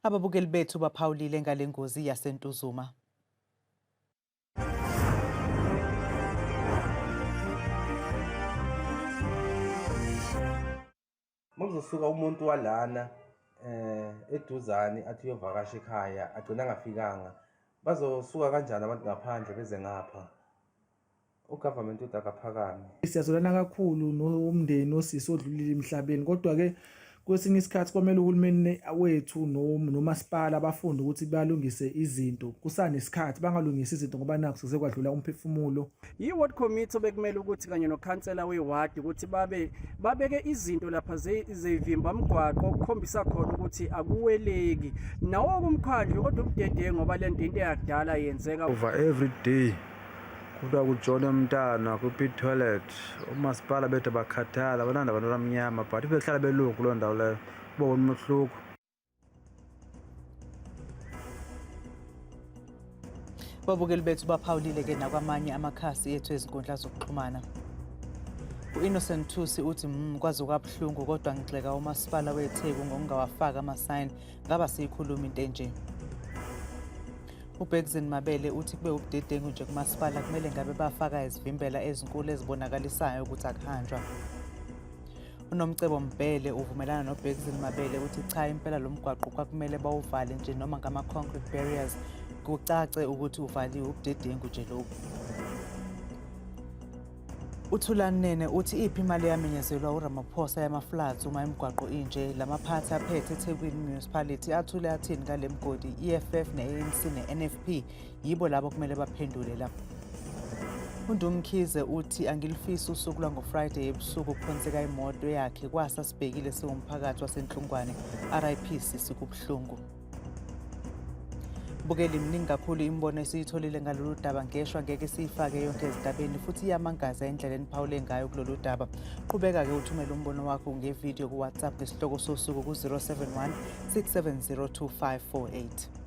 Ababukeli bethu baphawulile ngale ngozi yaseNtuzuma. Makuzosuka umuntu walana eh eduzane athi uyovakasha ekhaya agcina angafikanga bazosuka kanjani abantu ngaphandle beze ngapha u government uthi akaphakame. Siyazolana kakhulu nomndeni osisi odlulile emhlabeni kodwa ke kwesinye isikhathi kwamele uhulumeni wethu nomasipala bafunde ukuthi balungise izinto kusanesikhathi bangalungisi izinto ngoba nakho sezekwadlula umphefumulo yi-ward committee obekumele ukuthi kanye nokhansela wewadi ukuthi babe babeke izinto lapha zevimba mgwaqo okukhombisa khona ukuthi akuweleki nawo kumkhandlu kodwa ubudedengu ngoba le nto into eyakudala yenzeka over every day kuthiwa kujone umntana kwi-pit toilet umasipala bethu abakhathala abananda abantu abamnyama but behlala belungu kuloo ndawo leyo uba wona umehluko babukeli bethu baphawulile ke nakwamanye amakhasi ethu ezinkundla zokuxhumana u-innocent thusi uthi mm, kwaze kwabuhlungu kodwa ngigxeka umasipala wetheku ngokungawafaki amasayini ngaba siyikhuluma into enje UBexin Mabele uthi kube ubudedengu nje kumasipala kumele ngabe bafaka izivimbela ezinkulu ezibonakalisayo ukuthi akuhanjwa. UNomcebo Mbhele uvumelana noBexin Mabele uthi cha impela lo mgwaqo kwakumele bawuvale nje noma ngama-concrete barriers kucace ukuthi uvaliwe ubudedengu nje lokhu. uthulani nene uthi iphi imali eyamenyezelwa uramaphosa yamaflats uma imigwaqo inje la maphathi aphethe ethekwini municipality athule athini ngale mgodi i-eff ne-anc ne-nfp yibo labo kumele baphendule la undumkhize uthi angilifisi usuku lwangofriday ebusuku kuphonseka imoto yakhe kwasa sibhekile siwumphakathi wasenhlungwane rip sisi kubuhlungu bukeli mningi kakhulu imibono esiyitholile ngalolu daba ngeshwa ngeke siyifake yonke ezindabeni futhi iyamangaza indlela eniphawule ngayo kulolu daba qhubeka-ke uthumele umbono wakho ngevidiyo kuwhatsapp ngesihloko sosuku ku-071 670 2548